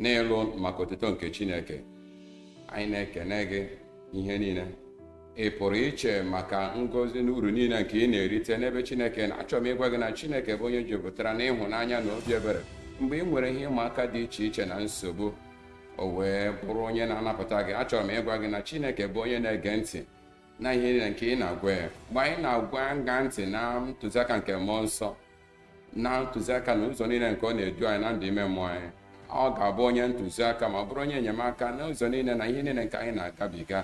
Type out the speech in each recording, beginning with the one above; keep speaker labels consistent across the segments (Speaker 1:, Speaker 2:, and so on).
Speaker 1: n'ịlụ maka otuto nke Chineke anyị na-ekene gị ihe niile ị pụrụ iche maka ngọzi na uru niile nke ị na-erite n'ebe Chineke nọ achọrọ m ịgwa gị na Chineke bụ onye jupụtara n'ịhụnanya na obi ebere mgbe ị nwere ihe ịma aka dị iche iche na nsogbu o wee bụrụ onye na-anapụta gị achọrọ m ịgwa gị na Chineke bụ onye na-ege ntị na ihe niile nke ị na-agwa ya mgbe anyị na-agwa ṅa ntị na ntụziaka nke mmụọ nsọ na ntụziaka na ụzọ niile nke ọ na-edu anyị na ndụ ime mmụọ anyị ọ ga-abụ onye ntụziaka ma ọ bụrụ onye enyemaka n'ụzọ niile na ihe niile nke anyị na-agabiga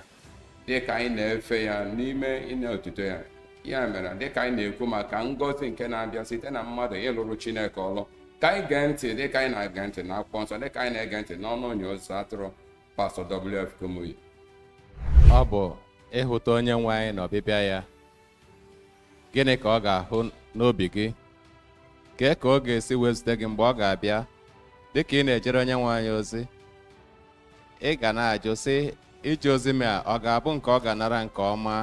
Speaker 1: dị ka anyị na-efe ya n'ime ịna otuto ya ya mere dị ka anyị na-ekwu maka ngọzi nke na-abịa site na mmadụ ịlụrụ Chineke ọlụ ka anyị gee ntị dị ka anyị na-ege ntị na akwụkwọ nsọ dị ka anyị na-ege ntị n'ọnụ onye ọzụ atụrụ pastọ WF Kumuyi ọ
Speaker 2: bụ ịhụta onye nwe anyị na ọbịbịa ya gịnị ka ọ ga-ahụ n'obi gị kee ka ọ ga-esi wee zute gị mgbe ọ ga-abịa dị ka ị na-ejere onye nwe anyị ozi ị ga na-ajụ sị ije ozi m a ọ ga-abụ nke ọ ga-anara nke ọma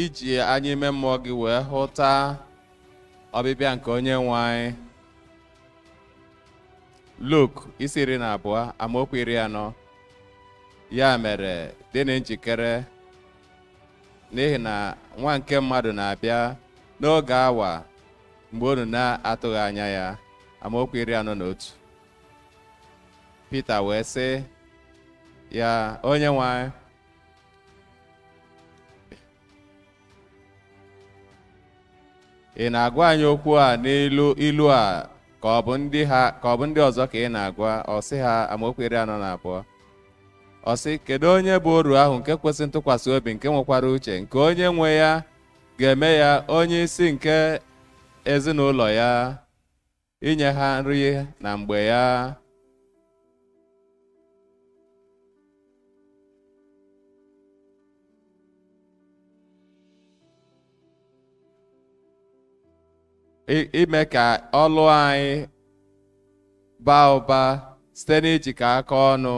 Speaker 2: iji anya ime mmụọ gị wee hụta ọbịbịa nke onye nwe anyị Luk isi iri na abụọ amaokwu iri anọ ya mere dị na njikere n'ihi na nwa nke mmadụ na-abịa n'oge awa mgbe unu na-atụghị anya ya amaokwu iri anọ na otu Pita wee sị ya onye nwe anyị ị na-agwa anyị okwu a n'ilu ilu a ka ọ bụ ndị ọzọ ka ị na-agwa ọ sị ha amaokwu iri anọ na abụọ ọ sị kedu onye bụ oru ahụ nke kwesị ntụkwasị obi nke nwekwara uche nke onye nwe ya ga-eme ya onye isi nke ezinụlọ ya inye ha nri na mgbe ya i- ime ka ọlụ anyị baa ụba site n'ijikọ aka ọnụ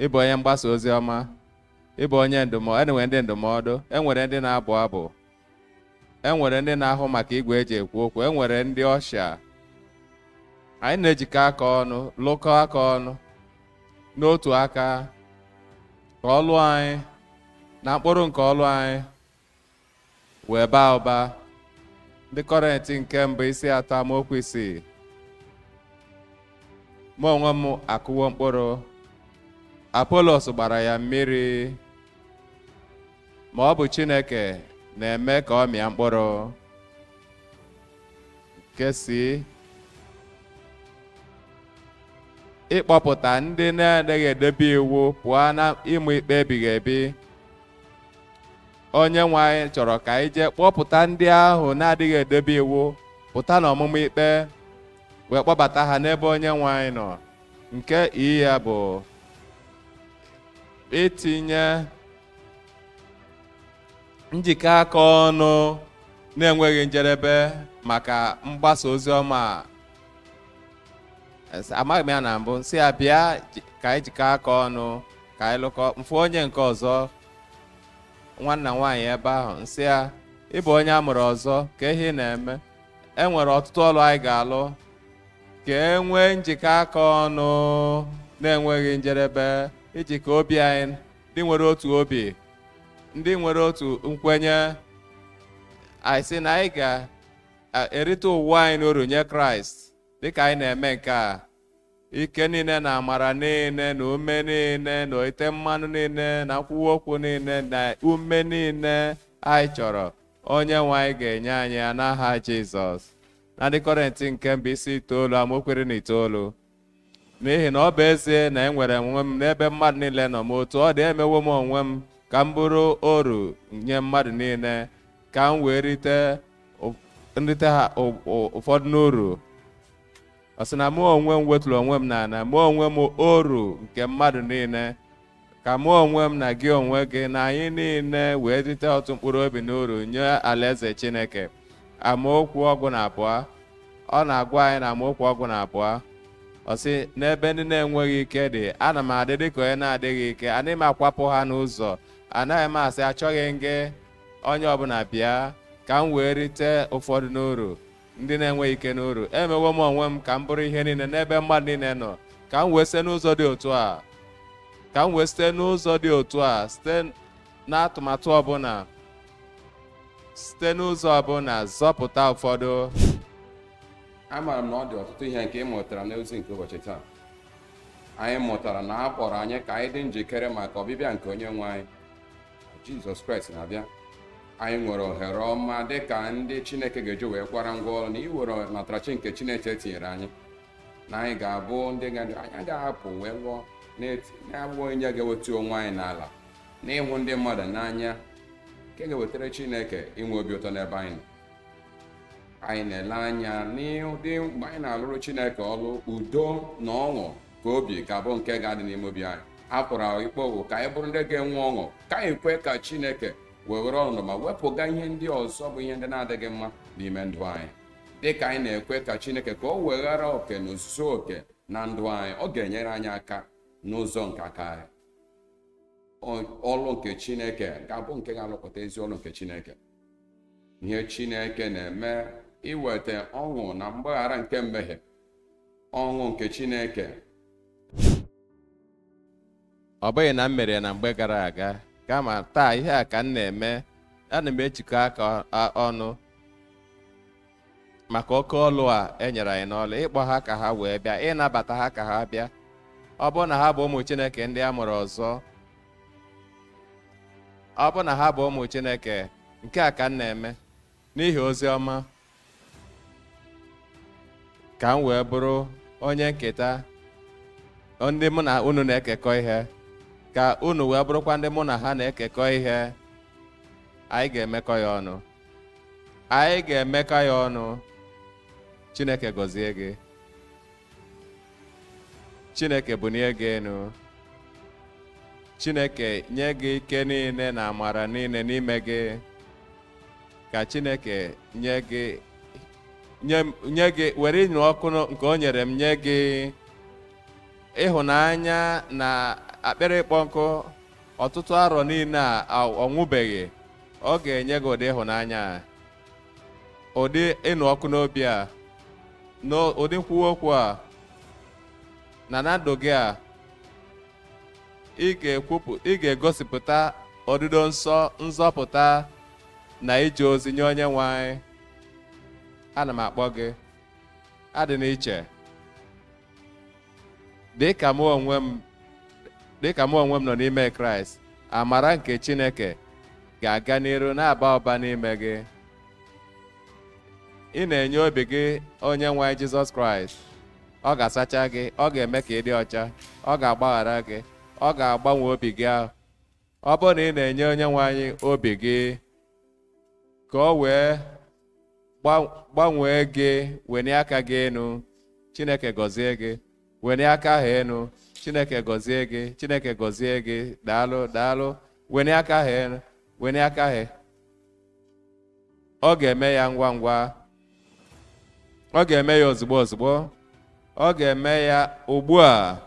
Speaker 2: ịbụ onye mgbasa ozi ọma ịbụ onye ndụmọdụ enwere ndị ndụmọdụ enwere ndị na-abụ abụ e nwere ndị na-ahụ maka igwe eji ekwu okwu e nwere ndị ọsha anyị na-ejikọ aka ọnụ lụkọ aka ọnụ n'otu aka ka ọlụ anyị na mkpụrụ nke ọlụ anyị wee baa ụba ndị Kọrịntị nke mbụ isi atọ amaokwu isii mụ onwe m akụwo mkpụrụ apolos gbara ya mmiri ma ọ bụ Chineke na-eme ka ọ mịa mkpụrụ nke C ịkpọpụta ndị na-adịghị edebe iwu pụọ na ịma ikpe ebighị ebi onye nwe anyị chọrọ ka anyị jee kpọpụta ndị ahụ na-adịghị edebe iwu pụta n'ọmụma ikpe wee kpọbata ha n'ebe onye nwe anyị nọ nke E ya bụ itinye njikọ aka ọnụ na-enweghị njedebe maka mgbasa ozi ọma a. M sị- amaghị m ya na mbụ m sị ya bịa ji- ka anyị jikọ aka ọnụ ka anyị lụkọ m fụ onye nke ọzọ nwanna nwaanyị ebe ahụ m sị ya ị bụ onye a mụrụ ọzọ kee ihe ị na-eme e nwere ọtụtụ ọlụ anyị ga-alụ ka e nwee njikọ aka ọnụ na-enweghị njedebe ijikọ obi anyị ndị nwere otu obi ndị nwere otu nkwenye anyị sị na anyị ga-erite ụwa anyị n'uru nye kraịst dịka anyị na-eme nke a ike niile na amara niile na ume niile na ite mmanụ niile na nkwuwa okwu niile na ume niile anyị chọrọ onye nwe anyị ga-enye anyị ya n'aha jizọs na ndị kọrịntị nke mbụ isi itoolu amaokwu iri na itoolu n'ihi na ọ bụ ezie na enwere m onwe m n'ebe mmadụ niile nọ ma otu ọ dị emewo m onwe m ka m bụrụ oru nye mmadụ niile ka m wee rite ụ- m rite ha ụ- ụ- ụfọdụ n'uru ọ sị na mụ onwe m weturu onwe m n'ala mee onwe m oru nke mmadụ niile ka mụ onwe m na gị onwe gị na anyị niile wee rite ọtụtụ mkpụrụ obi n'uru nye alaeze chineke amaokwu ọgụ na abụọ ọ na-agwa anyị na amaokwu ọgụ na abụọ ọ sị n'ebe ndị na-enweghị ike dị ana m adị dịka onye na-adịghị ike anaghị m akwapụ ha n'ụzọ anaghị m asị achọghị m gị onye ọbụla bịa ka m wee rite ụfọdụ n'uru ndị na-enweghị ike n'uru emewo m onwe m ka m bụrụ ihe niile n'ebe mmadụ niile nọ ka m wee site n'ụzọ dị otu a ka m wee site n'ụzọ dị otu a site n'atụmatụ ọbụla site n'ụzọ ọbụla zọpụta ụfọdụ
Speaker 1: amaara m na ọ dị ọtụtụ ihe nke ị mụtara n'ozi nke ụbọchị taa anyị mụtara na a kpọrọ anyị ka anyị dị njikere maka ọbịbịa nke onye nwe anyị jizọs kraịst na-abịa anyị nwere ohere ọma dị ka ndị chineke ga-eji wee kwara ngwa ọrụ na iwere natarachi nke chineke tinyere anyị na anyị ga-abụ ndị ga-adị anyị ga-apụ wee lụọ na-abụ onye ga-ewetu onwe anyị n'ala na ịhụ ndị mmadụ n'anya nke ga-ewetara chineke inwe obi ụtọ n'ebe anyị nọ anyị na-ele anya n'ụdị mgbe anyị na-alụrụ chineke ọrụ udo na ọṅụ ka obi ga-abụ nke ga-adị n'ime obi anyị akpịrị ịkpọ nkụ ka anyị bụrụ ndị ga-enwe ọṅụ ka anyị kwe ka chineke weghara ọnọdụ ma wepụga ihe ndị ọzọ bụ ihe ndị na-adịghị mma n'ime ndụ anyị dị ka anyị na-ekwe ka chineke ka o weghara oke na ozuzo oke na ndụ anyị ọ ga-enyere anyị aka n'ụzọ nke aka anyị Ọ- ọlụ nke chineke ga-abụ nke ga-alụpụta ezi ọlụ nke chineke ihe chineke na-eme iweta ọṅụ na mgbaghara nke mmehie ọṅụ nke Chineke
Speaker 2: ọ bụghị na m mere ya na mgbe gara aga kama taa ihe a ka m na-eme ana m ejikọ aka ọnụ maka oke ọlụ a e nyere anyị n'ọlụ ịkpọ ha ka ha wee bịa ịnabata ha ka ha bịa ọ bụrụ na ha bụ ụmụ Chineke ndị a mụrụ ọzọ ọ bụrụ na ha bụ ụmụ Chineke nke a ka m na-eme n'ihi ozi ọma ka m wee bụrụ onye nketa ndị mụ na unu na-ekekọ ihe ka unu wee bụrụkwa ndị mụ na ha na-ekekọ ihe anyị ga-emekọ ya ọnụ anyị ga-emekọ ya ọnụ Chineke gọzie gị Chineke bunie gị enu Chineke nye gị ike niine na amara niine n'ime gị ka Chineke nye gị nye m- nye gị were ịnụ ọkụ nụ- nke o nyere m nye gị ịhụnanya na akpịrị ịkpọ nkụ ọtụtụ arọ niine a a- ọ nwụbeghị ọ ga-enye gị ụdị ịhụnanya a ụdị ịnụ ọkụ n'obi a n'ụdị nkwuwa okwu a na na ndụ gị a ị ga-egosipụta odido nsọ nzọpụta na ije ozi nye onye nwe anyị ana m akpọ gị adị n'iche dịka mụ onwe m nọ n'ime kraịst amara nke chineke ga-aga n'iru na-aba ụba n'ime gị ị na-enye obi gị onye nwe anyị jizọs kraịst ọ ga-asacha gị ọ ga-eme ka ị dị ọcha ọ ga-agbaghara gị ọ ga-agbanwe obi gị ahụ ọ bụrụ na ị na-enye onye nwe anyị obi gị ka o wee gbanwee gị wenie aka gị enu chineke gọzie gị wenie aka ahụ enu chineke gọzie gị chineke gọzie gị daalụ daalụ wenie aka ahụ enu wenie aka ahụ ọ ga-eme ya ngwa ngwa ọ ga-eme ya ozugbo ozugbo ọ ga-eme ya ugbu a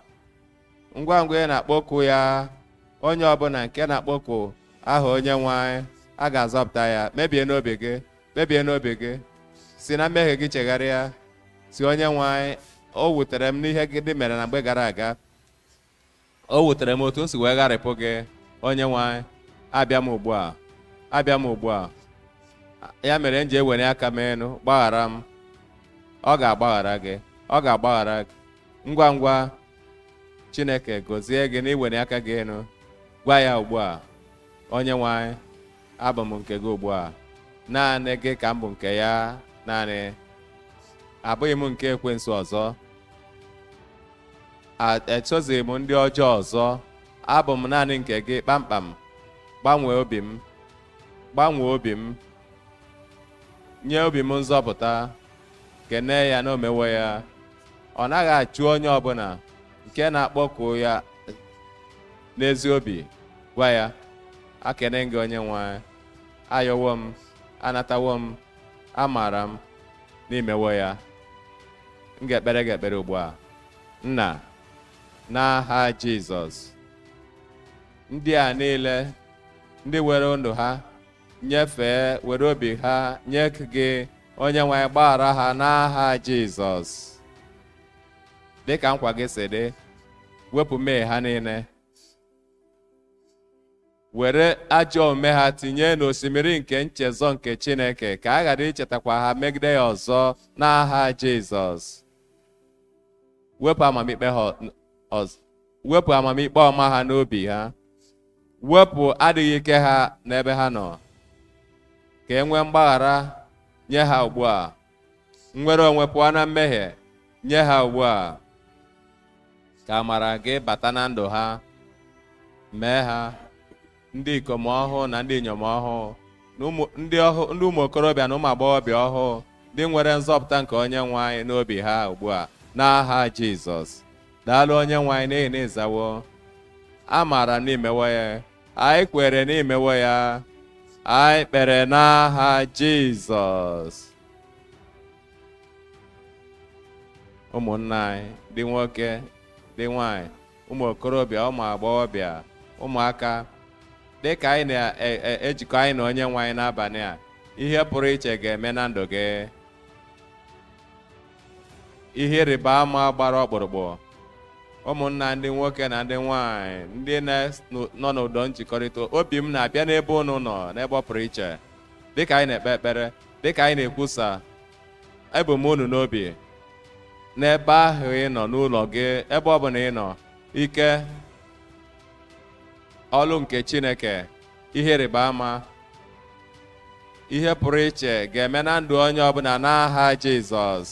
Speaker 2: ngwa ngwa ị na-akpọku ya onye ọbụla nke na-akpọku aha onye nwe anyị a ga-azọpụta ya kpebie n'obi gị kpebie n'obi gị si na mmehie gị chegharịa sị onye nwe anyị o wutere m n'ihe ndị m mere na mgbe gara aga o wutere m otu m si wee gharịpụ gị onye nwe anyị abịa m ugbu a abịa m ugbu a ya mere m ji ewelie aka m elu gbaghara m ọ ga-agbaghara gị ọ ga-agbaghara gị ngwa ngwa chineke gọzie gị na iwelie aka gị elu gwa ya ugbu a onye nwe anyị abụ m nke gị ugbu a naanị gị ka m bụ nke ya naanị abụghị m nke ekwensu ọzọ Esozighị m ndị ọjọọ ọzọ, abụ m naanị nke gị kpamkpam. Gbanwee obi m, gbanwee obi m, nye obi m nzọpụta, kenee ya na o mewo ya. Ọ naghị achụ onye ọbụla nke na-akpọku ya n'ezi obi gwa ya ekene m gị onye nwe anyị. ayọwo m anatawo m amaara m na i mewo ya m ga-ekpere gị ekpere ugbu a nna n'aha jizọs ndị a niile ndị were ndụ ha nyefee were obi ha nye gị onye nwe anyị gbaghara ha n'aha jizọs dị ka nkwa gị si dị wepụ mmehie ha niile were ajọ omume ha tinye n'osimiri nke nchezọ nke Chineke ka a ghara ichetakwa ha megide ya ọzọ n'aha Jizọs wepụ amamikpe ọma ha n'obi ha wepụ adịghị ike ha n'ebe ha nọ ka e nwee mgbaghara nye ha ugbu a nnwere onwe pụọ na mmehie nye ha ugbu a ka amara gị bata na ndụ ha mee ha ndị ikom ọhụụ na ndị inyom ọhụụ ndị ụmụ okorobịa na ụmụ agbọghọbịa ọhụụ ndị nwere nzọpụta nke onye nwe anyị n'obi ha ugbu a n'aha jizọs daalụ onye nwe anyị n'ihi na ị zawo amaara m na i mewo ya anyị kwere na i mewo ya anyị kpere n'aha jizọs ụmụnna anyị ndị nwoke ndị nwanyị ụmụ okorobịa ụmụ agbọghọbịa ụmụaka dị ka anyị na-ejikọ anyị na onye nwe anyị n'abalị a ihe pụrụ iche ga-eme na ndụ gị ihe ịrịba ama gbara ọkpụrụkpụ ụmụnna ndị nwoke na ndị nwanyị ndị nọ n'ụdọ njikọrịta obi m na-abịa n'ebe unu nọ n'ebe ọ pụrụ iche dịka anyị na-ekpe ekpere dịka anyị na-ekwusa ebu m unu n'obi n'ebe ahụ ị nọ n'ụlọ gị ebe ọ bụla ị nọ ike ọlụ nke Chineke ihe ịrịba ama ihe pụrụ iche ga-eme na ndụ onye ọbụla n'aha Jizọs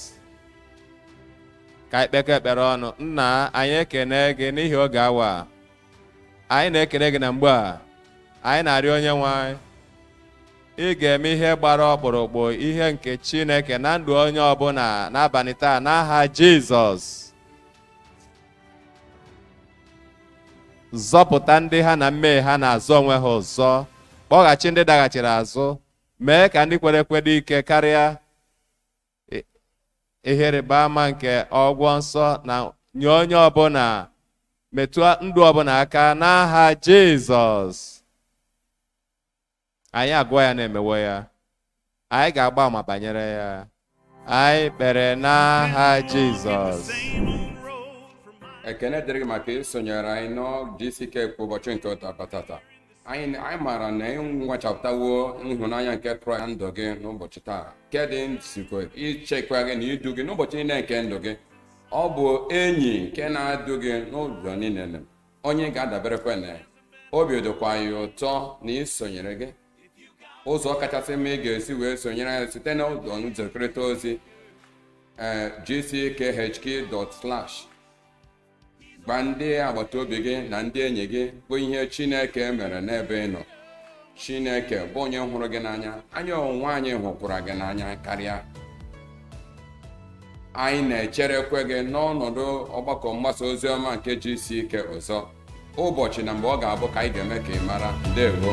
Speaker 2: ka anyị kpekọ ekpere ọnụ nna anyị ekene gị n'ihi oge awa a. anyị na-ekene gị na mgbe a anyị na-arịọ onye nwe anyị ị ga-eme ihe gbara ọkpụrụkpụ ihe nke Chineke na ndụ onye ọbụla n'abalị taa n'aha Jizọs zọpụta ndị ha na mmehie ha na-azọ onwe ha ọzọ kpọghachi ndị daghachiri azụ mee ka ndị kwere ekwe dị ike karịa ihe ịrịba ama nke ọgwọ nsọ na nye onye ọbụla metụ ndụ ọbụla aka n'aha Jizọs anyị agụọ ya na e mewo ya anyị ga-agba ama banyere ya anyị kpere n'aha Jizọs
Speaker 1: ekene dịrị gị maka isonyere anyị na GCK kwa ụbọchị nke taa bụ taata anyị maara na ị nwachapụtawo ịhụnanya nke kraịst na ndụ gị n'ụbọchị taa nke dị nzukọ ichekwa gị na idu gị n'ụbọchị niile nke ndụ gị ọ bụ enyi nke na-edu gị n'ụzọ niile onye ị ga-adaberekwa na ya obi dịkwa anyị ụtọ na isonyere gị ụzọ kachasị mma ị ga-esi wee sonyere anyị site na ụdọ nzikọrịta ozi ee gckhq.slash gwa ndị agbata obi gị na ndị enyi gị bụ ihe Chineke mere n'ebe ị nọ Chineke bụ onye hụrụ gị n'anya anyị onwe anyị hụkwara gị n'anya karịa anyị na-echerekwe gị n'ọnọdụ ọgbakọ mgbasa ozi ọma nke GCK ọzọ ụbọchị na mgbe ọ ga-abụ ka anyị ga-eme ka ị mara ndewo